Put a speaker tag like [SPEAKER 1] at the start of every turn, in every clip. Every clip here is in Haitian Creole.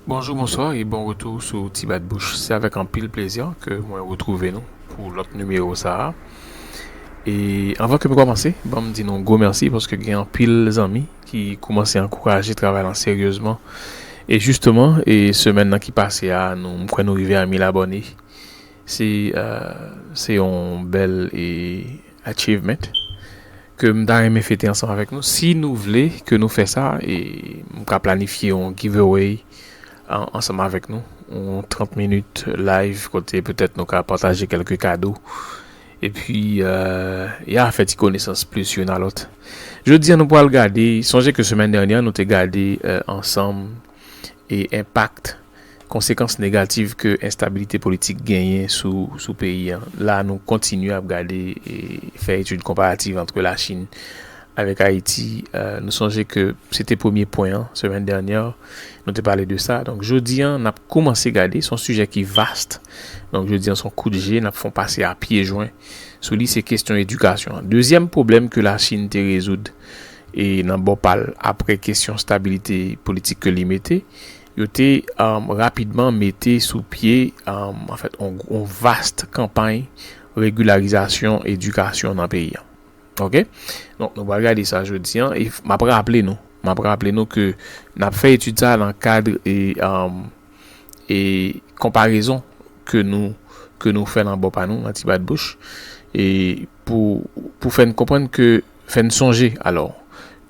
[SPEAKER 1] Bonjou, bonswa e bon retou sou Ti Bat Bouch. Se avèk anpil plezi ke mwen retwouve nou pou lòt nimewo sa a. E anvan ke m kòmanse, ban m di nou yon gwo mèsi paske gen anpil zanmi ki koumanse ankouraje travay lan seryezman. E jisteman, e semèn nan ki pase a, nou m kwè nou rive a 1000 abòne. Se yon bèl e achievement. ke m ta renmen fete ansanm avèk nou si nou vle ke nou fè sa e m ka planifye yon giveaway ansanm avèk nou yon 30 minit live kote petèt nou ka pataje kèlke kado epi ya fè ti konesans plis youn a lòt jodi a nou pral gade sonje ke semèn dènyè nou te gade ansanm e enpak konsekans negatif ke enstabilite politik genyen sou peyi an. La nou kontinye ap gade e fè etid konparativ antre la Chin avèk Ayiti. Nou sonje ke se te premye pwen an semèn dènyè nou te pale de sa. Donk jodi an nap koumanse gade son sijè ki vast. Donk jodi an son kout je nap fon pase a pye jwen sou li se kestyon edikasyon. Dezyèm pwoblèm ke la Chin te rezoud E nan bò pa l, apre kesyon stabilite politik ke li mete, yo te rapidman mete sou pye anfèt yon vast kanpay regilarizasyon edikasyon nan peyi an. Ok? Donk nou pral gade sa jodi an e m ap raple nou, m ap raple nou ke n ap fè etid sa nan kad e konparezon ke nou ke nou fè nan bò pa nou nan ti bat bouch e pou pou fè n konprann ke Fè n sonje, alò,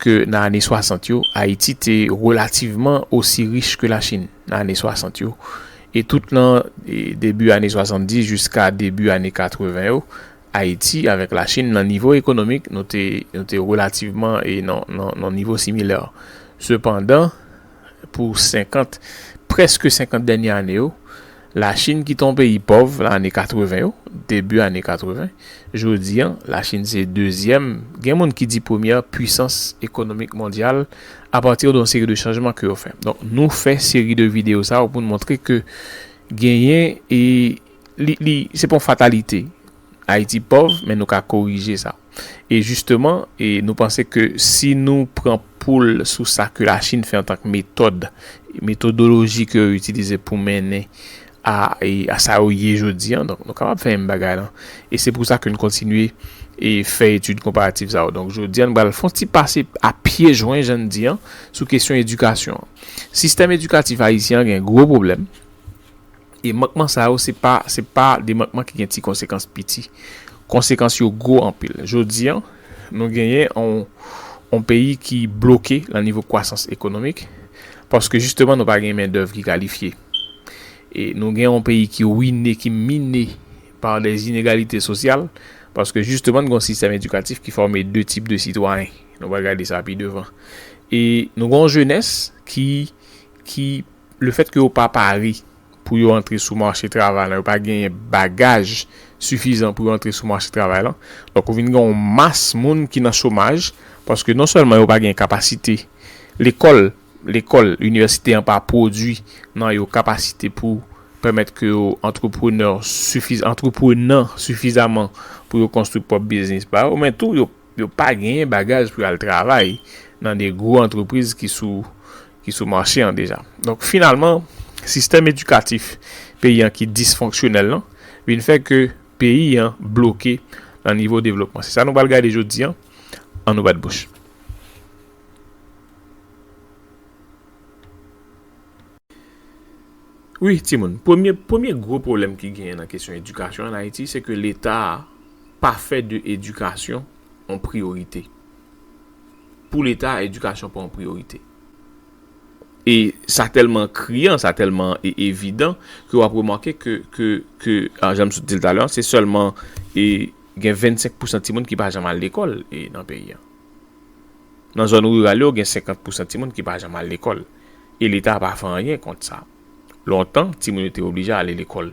[SPEAKER 1] ke nan ane 60 yo, Ayiti te relativman osi rich ke Lachin nan ane 60 yo, e tout nan debi ane 70 jiska debi ane 80 yo, Ayiti avèk Lachin nan nivo ekonomik, nou te, nou te relativman nan yon nivo similè. Sepandan, pou senkant, prèske senkant dènye ane yo, Lachin ki te yon peyi pòv lan ane 80 yo, debi ane 80, jodi an, Lachin se dezyèm, gen moun ki di premyè pwisans ekonomik mondyal apati de yon seri de chanjman ke yo fè. Donk, nou fè seri de videyo sa yo pou nou montre ke genyen e li, li, se pa yon fatalite Ayiti pòv men nou ka korije sa. E jisteman e nou panse ke si nou pran poul sou sa ke Lachin fè antank metòd, metodoloji ke yo itilize pou mennen a e a sa yo ye jodi an, donk nou kapab fè menm bagay lan. E se pou sa ke n kontinye e fè etid konparatif sa yo. Donk jodi an n pral fon ti pase a pye jwen jan n di an sou kesyon edikasyon an. Sistèm edikatif ayisyen an gen gwo pwoblèm. E mankman sa yo se pa se pa de mankman ki gen ti konsekans piti. Konsekans yo gwo anpil. Jodi an, nou genyen yon yon peyi ki bloke nan nivo kwasans ekonomik paske jisteman nou pa gen mendèv ki kalifye. E nou gen yon peyi ki wine, ki mine pa dè zinegalite sosyal paske jisteman nou gen yon sistèm edikatif ki fòme de tip de sitwayen. Nou pral gade sa pi devan. E nou gen yon jenès ki ki. Lefèt ke yo pa pare pou yo antre sou mache travay lan, yo pa genyen bagaj sifizan pou yo antre sou mache travay lan, donk ou vin gen yon mas moun ki nan chomaj, paske non sèlman yo pa gen kapasite, lekòl, lekòl, inivèsite an pa pwodui nan yo kapasite pou pèmèt ke yo antreprenè sifiz, antreprenan sifizaman pou yo konstwi pwòp biznis pa yo, men tou yo. Yo pa genyen bagaj pou yo al travay nan de gwo antrepriz ki sou ki sou mache an deja. Donk finalman sistèm edikatif peyi an ki disfonksyonèl lan vin fè ke peyi an bloke nan nivo devlopman. Se sa nou pral gade jodi an, an nou bat bouch. Wi timoun, premye premye gwo pwoblèm ki genyen nan kesyon edikasyon an Ayiti se ke leta a pa fè de edikasyon yon priyorite. Pou leta a edikasyon pa yon priyorite. E sa tèlman kriyan, sa tèlman e evidan ke w ap remake ke ke ke a jan m sot di l talè an se sèlman e gen 25 pousan timoun ki pa janm al lekòl e nan peyi an. Nan zòn riral yo gen 50 pousan timoun ki pa janm al lekòl. E leta pa fè anyen kont sa. Lontan, timoun yo te oblije ale lekòl.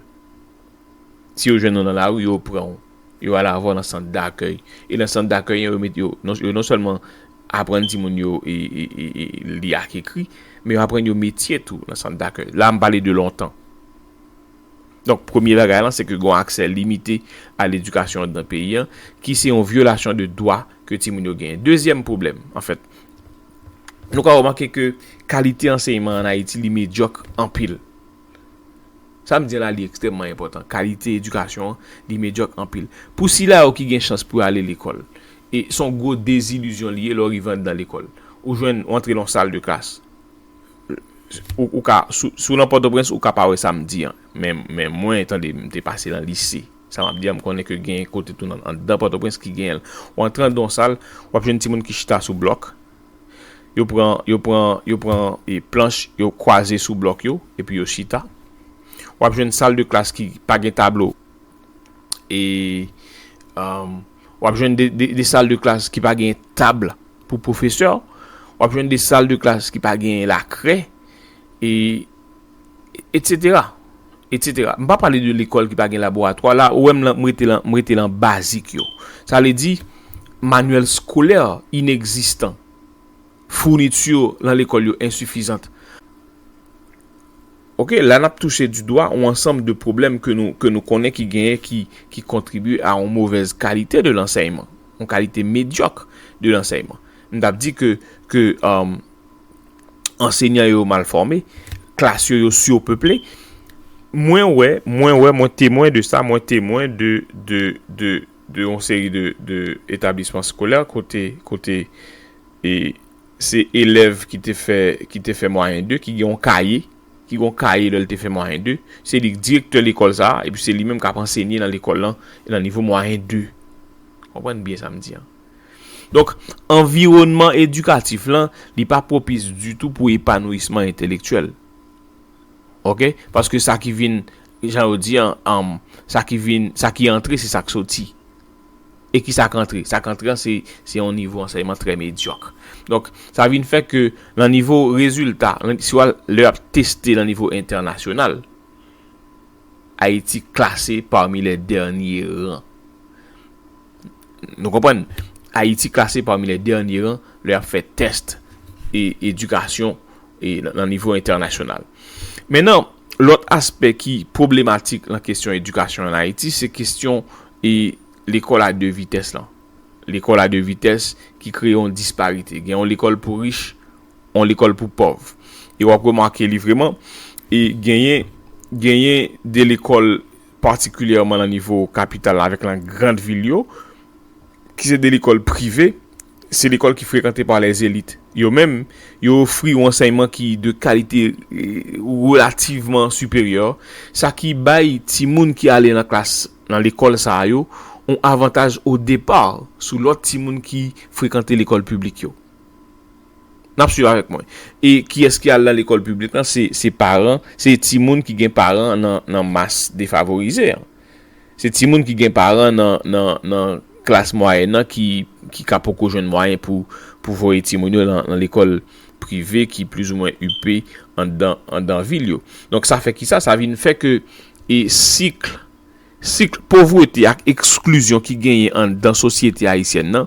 [SPEAKER 1] Si yo jwenn ou nan lari, yo pran ou, yo al avè w nan sant dakèy. E nan sant dakèy an, yo met yo, yo non sèlman aprann timoun yo li ak ekri, men yo aprann yo metye tou nan sant dakèy. La a m pale de lontan. Donk, premye bagay lan, se ke gen yon aksè limite a ledikasyon anndan peyi an, ki se yon vyolasyon de dwa ke timoun yo genyen. Dezyèm pwoblèm, anfèt. Nou ka remake ke kalite anseyman an Ayiti li medyòk anpil. Sa m di la li ekstrèmman enpòtan. Kalite edikasyon an li medyòk anpil. Pou sila yo ki gen chans pou yo ale lekòl, e s on gwo dezilizyon li ye lè w rive anndan lekòl. Ou jwenn, ou antre nan yon sal de klas, ou ka, si w nan Pòtoprens ou ka pa wè sa m di an, men mwen, tande, m te pase nan lise. Sa map di a m konnen ke gen kote tou nan andan Pòtoprens ki genyen l. Ou antre andan yon sal, wap jwenn timoun ki chita sou blòk. Yo pran, yo pran, yo pran e planch yo kwaze sou blòk yo epi yo chita. Wap jwenn sal de klas ki pa gen tablo e wap jwenn de de sal de klas ki pa gen tab pou pwofesè. Wap jwenn de sal de klas ki pa gen lakre e. Etsetera Etsetera M pa pale de lekòl ki pa gen laboratwa la ou wè m lan m rete lan m rete lan bazik yo sa vle di manyèl skolè inegzistan founiti lan lekòl yo ensifizant ok la n ap touche di dwa yon ansanm de pwoblèm ke nou ke nou konnen ki genyen ki ki kontribye a yon movèz kalite de lansèyman yon kalite medyòk de lansèyman m t ap di ke ke Ansenyan yo mal fòme, klas yo yo surpeple. Mwen wè, mwen wè, mwen temwen de sa, mwen temwen de, de, de, de yon seri de, de etablisman skolè kote, kote e se elèv ki te fè, ki te fè mwayen 2, ki gen yon kaye, ki gen yon kaye lè l te fè mwayen 2, se li k direktè lekòl sa a, epi se li menm k ap ansenye nan lekòl lan nan nivo mwayen 2. Konprann byen sa m di an. Donk, anviwònman edikatif lan, li pa pwopis ditou pou epanouyisman entelektyèl. Oke? Paske sa ki vin, jan yo di an, an, sa ki vin, sa ki antre, se sa k soti. E ki sa k antre? Sa k antre an, se, se yon nivo ansèyman trè medyòk. Donk, sa vin fè ke nan nivo rezilta, si w al, lè y ap teste nan nivo entènasyonal, Ayiti klase pami lè dènye ran. Nou konprann, Ayiti klase pami lè dènye ran lè y ap fè tèst e edikasyon e nan nivo entènasyonal. Men nan lòt aspè ki pwoblematik lan kesyon edikasyon an Ayiti se kesyon e lekòl a 2 vitès lan. Lekòl a 2 vitès ki kreye yon disparite. Gen yon lekòl pou rich, yon lekòl pou pòv. E w ap remake li vreman e genyen genyen 2 lekòl. patikilyèman lan nivo kapital la avèk lan grand vil yo, ki se de lekòl prive, se lekòl ki frekante pa lè zelit. Yo menm, yo ofri yon ansèyman ki de kalite relativman siperyè, sa ki bay timoun ki ale lan klas lan lekòl sa a yo yon avantaj o depa sou lòt timoun ki frekante lekòl piblik yo. Nap swiv avèk mwen. E kiyès ki al nan lekòl piblik lan? Se paran, se timoun ki gen paran nan mas defavorize an. Se timoun ki gen paran nan klas mwayèn nan ki ka poko jwenn mwayen pou voye timoun yo nan lekòl prive ki plis ou mwen ipe anndan vil yo. Donk sa fè kisa? Sa vin fè ke e sik, sik povrete ak eksklizyon ki genyen anndan sosyete ayisyèn nan.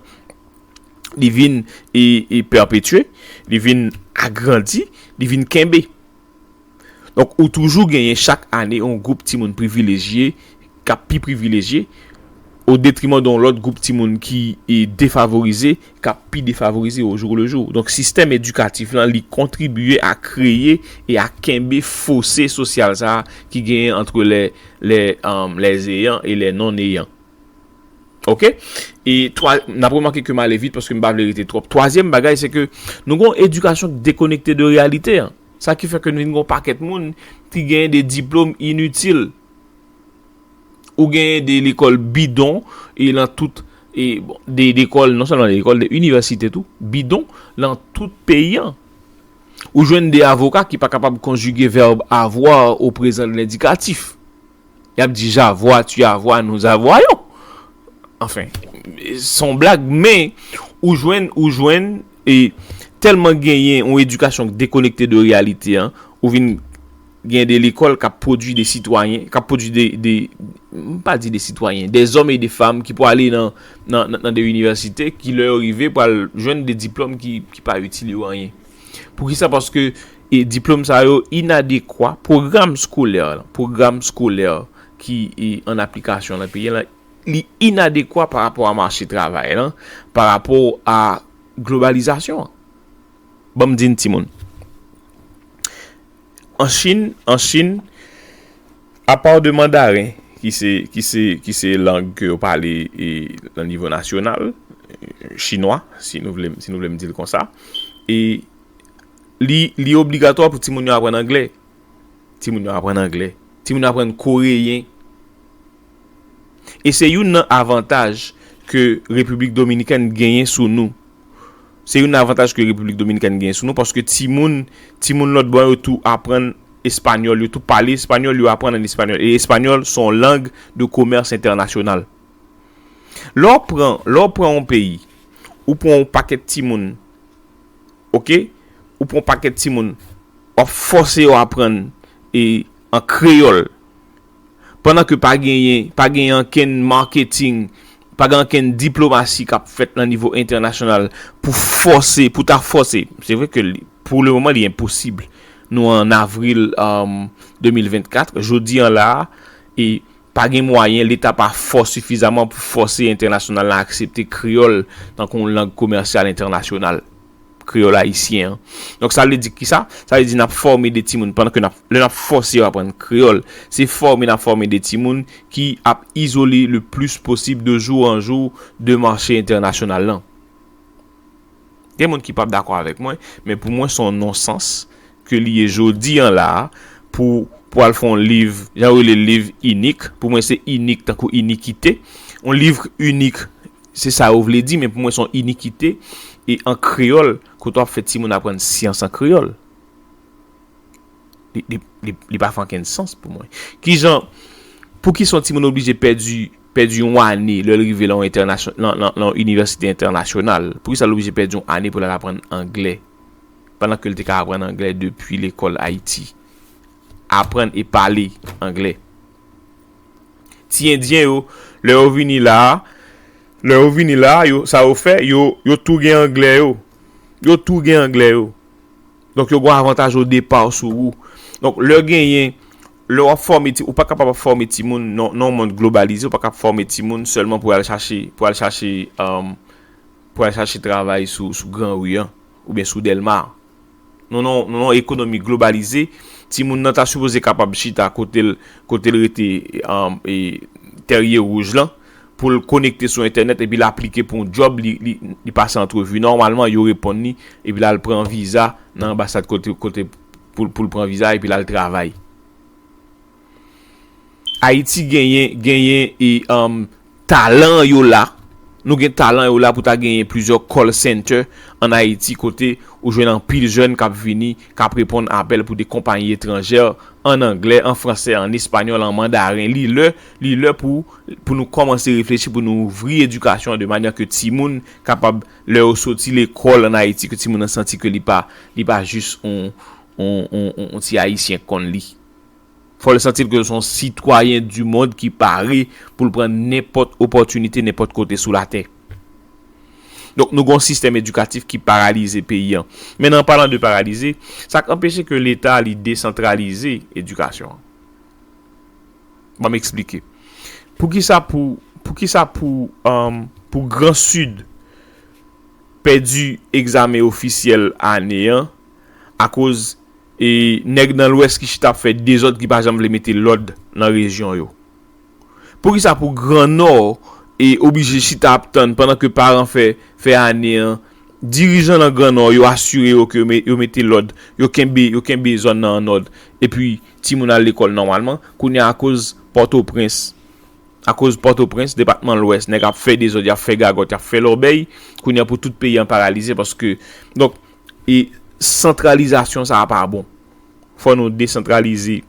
[SPEAKER 1] li vin e pèpetye, li vin agrandi, li vin kenbe. Donk, ou toujou genyen chak ane yon gwoup timoun privilejye, k ap pi privilejye, o detriman de yon lòt gwoup timoun ki e defavorize, k ap pi defavorize o jou le jou. Donk, sistèm edikatif lan, li kontribiye a kreye e a kenbe fose sosyal sa a ki genyen antre lè, lè, lè eyan e lè non eyan. Ok e twa nap remake kem ale vit paske m pa vle rete twòp twazyèm bagay se ke nou gon edikasyon ki dekonekte de reyalite an sa ki fè ke nou vin gon pakèt moun ki gen de diplòm initil ou gen de lekòl bidon e lan tout e bon de lekòl non sèlman de lekòl de inivèsite tou bidon lan tout peyi an ou jwenn de avoka ki pa kapab konjige vèb avoir o prezan lendikatif. Yap di j'avoua, tu avoua, nous avoyons. Anfen, son blag men ou jwenn ou jwenn e tèlman genyen yon edikasyon k dekonekte de reyalite an, ou vin gen de lekòl kap pwodui de sitwayen, kap pwodui de de m pa di de sitwayen, de zòm e de fam ki pou ale nan nan nan de inivèsite ki lè yo rive pral jwenn de diplòm ki pa itil yo anyen. Poukisa? Paske E diplome sa yo inadekwa, pwogram skolè, pwogram skolè ki an aplikasyon nan peyi lan, li inadekwa pa rapò a mache travay lan, pa rapò a globalizasyon an. Ban m di n ti moun. An Chin, an Chin, apaw de mandaren ki se, ki se, ki se lang ke yo pale e nan nivo nasyonal, chinwa, si nou vle m, si nou vle m di l konsa, e. Li obligatwa pou timoun yo aprann angle. Timoun yo aprann angle. Timoun yo aprann koreyen. E se youn nan avantaj ke Repiblik Dominikèn genyen sou nou. Se youn nan avantaj ke Repiblik Dominikèn genyen sou nou paske timoun, timoun lòt bò yo tou aprann espanyòl. Yo tou pale espanyòl, yo aprann an espanyòl. E espanyòl son lang de komèrs entènasyonal. Lè w pran, lè w pran yon peyi, ou pran yon pakèt timoun ok ou pran pakèt timoun wap fòse yo aprann e an kreyòl pandan ke pa genyen pa genyen ankenn marketing pa gen ankenn diplomasi kap fèt nan nivo entènasyonal pou fòse pou ta fòse se vre ke pou le moman li enposib nou an avril 2024 jodi an la e Pa gen mwayen, leta pa fò sifizaman pou fòse entènasyonal la aksepte kreyòl tankou yon lang komèsyal entènasyonal, kreyòl ayisyen an. Donk sa vle di ki sa? Sa vle di n ap fòme de timoun pandan ke n ap, lè n ap fòse yo aprann kreyòl, se fòme n ap fòme de timoun ki ap izole le plis posib de jou an jou de mache entènasyonal lan. Gen moun ki p ap dakò avèk mwen, men pou mwen se yon non sans ke li ye jodi an la a, pou pou al fè yon liv, jan yo rele l liv inik, pou mwen se inik tankou inikite, yon livre unique se sa yo vle di men pou mwen se yon inikite e an kreyòl kote w ap fè timoun aprann syans an kreyòl li pa fè ankenn sans pou mwen. Kijan, poukisa yon timoun oblije pèdi pèdi yon ane lè l rive lan yon entènasyon lan lan lan yon inivèsite entènasyonal, poukisa l oblije pèdi yon ane pou l al aprann angle pandan ke l te ka aprann anglè depi lekòl Ayiti. Aprann e pale anglè. Ti endyen yo, lè yo vini la a, lè yo vini la a, yo, sa yo fè, yo, yo tou gen anglè yo. Yo tou gen anglè yo. Donk yo gen yon avantaj odepa sou ou. Donk lè genyen, lè w ap fòme ti, ou pa kapab ap fòme timoun nan, nan yon mond globalize, ou pa kab fòme timoun sèlman pou y al chache, pou y al chache, pou y al chache travay sou, sou gran ri an. Oubyen sou Dèlma. Nou nan yon, nou nan yon ekonomi globalize, timoun nan ta sipoze kapab chita kote l, kote l rete e Tèrye Wouj lan, pou l konekte sou entènèt epi l aplike pou yon djòb, li, li, li pase antrevi, nòmalman yo reponn li, epi l al pran viza nan anbasad kote, kote pou l, pou l pran viza a epi l al travay. Ayiti genyen, genyen e Talan yo la, Nou gen talan yo la pou ta genyen plizyè call center an Ayiti kote ou jwenn anpil jèn kap vini kap reponn apèl pou de konpayi etranjè an anglè, an fransè, an espanyòl, an mandaren. Li lè, li lè pou pou nou kòmanse reflechi pou nou ouvri edikasyon an de manyè ke timoun kapab lè yo soti lekòl an Ayiti ke timoun nan santi ke li pa li pa jis on on on ti ayisyen k konn li. Fò l santi l ke l se yon sitwayen di mond ki pare pou l pran nenpòt opòtinite nenpòt kote sou latè. Donk nou gen yon sistèm edikatif ki paralize peyi an. Men an palan de paralize, sa k anpeche ke leta li desantralize edikasyon an? Ban m eksplike. Poukisa pou poukisa pou pou gran sid pèdi egzamen ofisyèl ane an akoz E nèg nan lwès ki chita ap fè dezòd ki pa janm vle mete lòd nan rejyon yo. Poukisa pou gran nò e oblije chita ap tann pandan ke paran fè fè ane an dirijan nan gran nò yo asire yo ke yo mete lòd yo kenbe yo kenbe zòn nan an nòd epi timoun al lekòl nòmalman kounye a akoz pòtoprens akoz pòtoprens depatman lwès nèg ap fè dezòd yap fè gagòt yap fè lòbèy kounye a pou tout peyi an paralize paske donk E santralizasyon sa a pa bon. Fò nou desantralize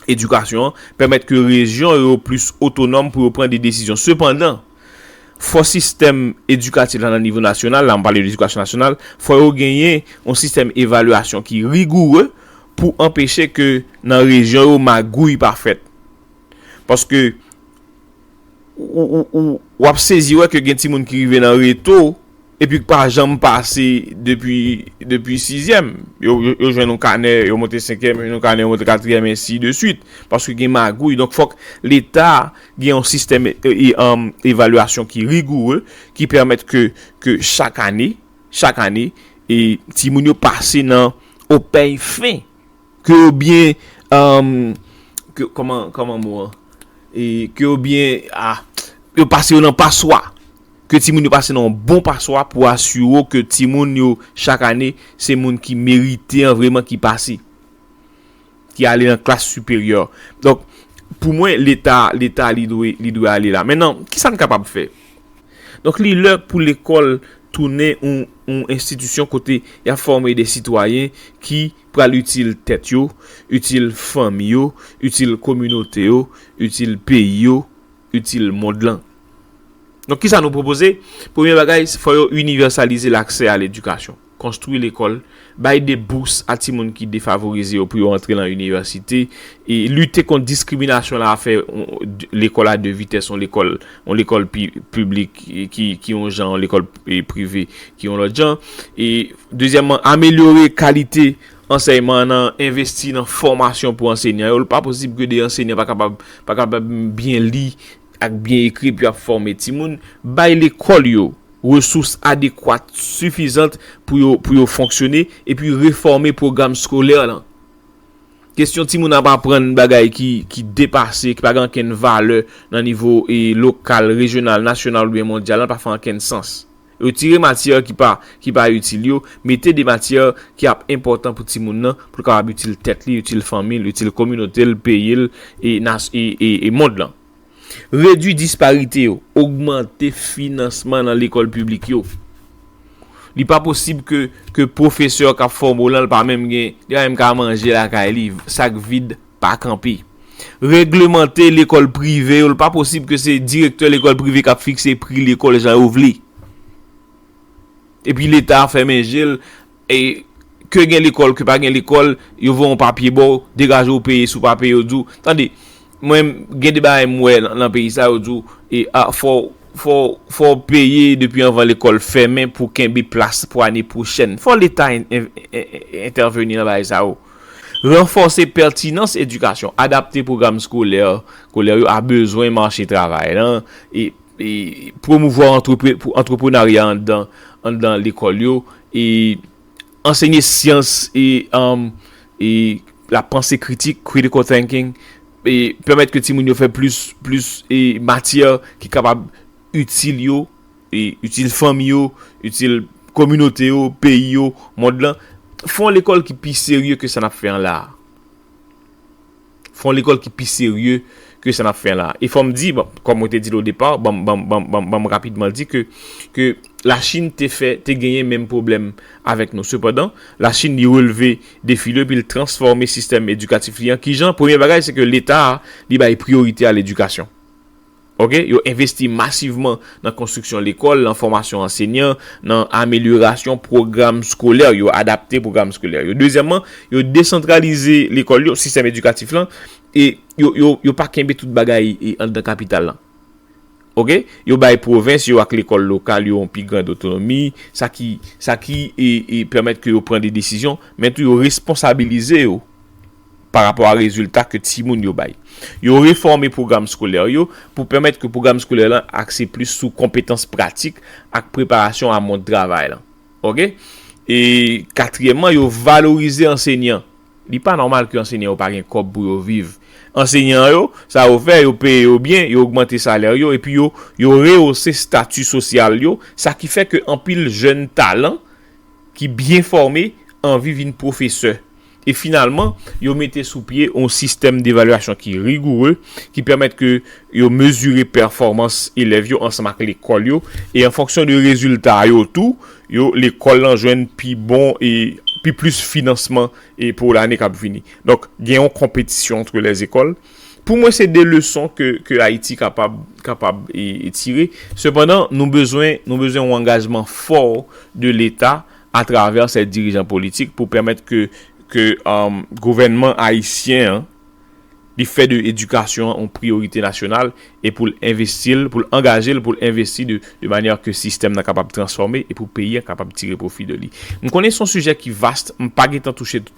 [SPEAKER 1] edikasyon an, pèmèt ke rejyon yo plis otonòm pou yo pran de desizyon. Sepandan, fò sistèm edikatif la nan nivo nasyonal, la m pale de edikasyon nasyonal, fò yo genyen yon sistèm evalyasyon ki rigoure pou anpeche ke nan rejyon yo magouy pa fèt. Paske, w ap sezi wè ke gen timoun ki rive nan reto. Epi k pa janm pase depi depi sizyèm. Yo yo jwenn yon kanè yo monte senkyèm, yo jwenn yon kanè yo monte katriyèm ensi de swit. Paske gen magouy. Donk fòk leta gen yon sistèm evalyasyon ki rigoure ki pèmèt ke ke chak ane chak ane e timoun yo pase nan opèy fen. Ke yo byen, emm, ke, kòman, kòman mo an? E, ke yo byen, a, yo pase yo nan paswa. Ke timoun yo pase nan yon bon paswa pou asire w ke timoun yo chak ane se moun ki merite an vreman ki pase. Ki ale nan klas siperyè. Donk, pou mwen, leta, leta li dwe, li dwe ale la. Mennan, kisa n kapab fè? Donk li lè pou lekòl tounen yon enstitisyon kote y ap fòme de sitwayen ki pral itil tèt yo, itil fanmi yo, itil kominote yo, itil peyi yo, itil mond lan. Donk kisa nou pwopoze? Premye bagay, fò yo inivèsalize laksè a ledikasyon. konstwi lekòl, bay de bous a timoun ki defavorize yo pou yo antre lan inivèsite, e lite kont diskriminasyon la a fè lekòl a de vitès yon lekòl yon lekòl piblik ki yon jan yon lekòl prive ki yon lòt jan e dezyèmman amelyore kalite ansèyman an nan envesti nan fòmasyon pou ansenyan yo l pa posib ke de ansenyan pa kapab pa kapab byen li ak byen ekri epi ap fòme timoun, bay lekòl yo resous adekwat sifizant pou yo pou yo fonksyone epi refòme pwogram skolè lan. Kesyon timoun ap aprann bagay ki ki depase, ki pa gen ankenn valè nan nivo lokal, rejyonal, nasyonal oubyen mondyal lan pa fè ankenn sans. Retire matyè ki pa ki pa itil yo, mete de matyè ki ap enpòtan pou timoun nan, pou l kapab itil tèt li, itil fanmi l, itil kominote l, peyi l e nas e e e mond lan. Redui disparite yo, ogmante finansman nan lekòl piblik yo. Li pa posib ke ke pwofesè k ap fòme w lan l pa menm gen li pa menm ka manje lakay li, sak vid. pa kanpe. Reglemante lekòl prive yo, li pa posib ke se direktè lekòl prive kap fikse pri lekòl jan yo vle. Epi leta fèmen je l, e ke gen lekòl ke pa gen lekòl, yo voye yon papye ba w, degaje w peye, si w pa peye yo di w, tande, mwen gen de bagay mwen wè nan peyi sa yo di w, e a fò w, fò w, fò w peye depi anvan lekòl fèmen pou kenbe plas pou ane pwochèn. Fò leta entèveni nan bagay sa yo. Ranfòse pètinans edikasyon, adapte pwogram skolè kolè yo a bezwen mache travay lan e pwomouvwa antreprenarya anndan lekòl yo e ansenye syans e la panse kritik, critical thinking, e pèmèt ke timoun yo fè plis matyè ki kapab itil yo. Li itil fanmi yo, itil kominote yo, peyi yo, mond lan. Fon lekòl ki pi serye ke sa n ap fè an la a. Fon lekòl ki pi serye ke sa n ap fè an la a. E fò m di, kòm mwen te di l o depa, banm, banm, banm, banm, banm rapidman l di ke, ke Lachin te fè, te genyen menm pwoblèm avèk nou. Sepandan, Lachin li releve defi li epi l transfòme sistèm edikatif li an. Kijan? Premye bagay se ke Leta a, li bay priyorite a ledikasyon. Ok, yo envesti masivman nan konstriksyon lekòl, nan fòmasyon ansenyan, nan amelyorasyon pwogram skolè yo, adapte pwogram skolè yo. Dezyèmman, yo desantralize lekòl yo, sistèm edikatif lan, e yo pa kenbe tout bagay anndan kapital lan. Ok, yo bay pwovens yo ak lekòl lokal yo yon pi grand otonomi, sa ki, sa ki pèmèt ke yo pran de desizyon, men tou yo responsabilize yo. pa rapò a rezilta ke timoun yo bay. Yo refòme pwogram skolè yo pou pèmèt ke pwogram skolè lan akse plis sou konpetans pratik ak preparasyon a mond travay lan. Ok. E katriyèmman, yo valorize ansenyan. Li pa nòmal ke ansenyan yo pa gen kòb pou yo viv. Ansenyan yo, sa yo fè, yo peye yo byen, yo ogmante salè yo, epi yo, yo rehose stati sosyal yo, sa ki fè ke anpil jèn talan ki byen fòme anvi vin pwofesè. E finalman, yo mete sou pye yon sistèm devalyasyon ki rigoure, ki pèmèt ke yo mezire pèfòmans elèv yo ansanm ak lekòl yo, e an fonksyon de rezilta yo tou, yo lekòl lan jwenn pi bon e pi plis finansman e pou lane k ap vini. Donk, gen yon konpetisyon antre lèzekòl. Pou mwen se de leson ke ke Ayiti kapab kapab e tire. Sepandan, nou bezwen nou bezwen yon angajman fò de Leta atravè sè dirijan politik pou pèmèt ke ke gouvènman ayisyen an li fè de edikasyon an yon priyorite nasyonal e pou l envesti l, pou l angaje l pou l envesti de de manyè ke sistèm nan kapab transfòme e pou peyi a kapab tire pwofi de li. M konnen se yon sijè ki vast, m pa gen tan touche tout.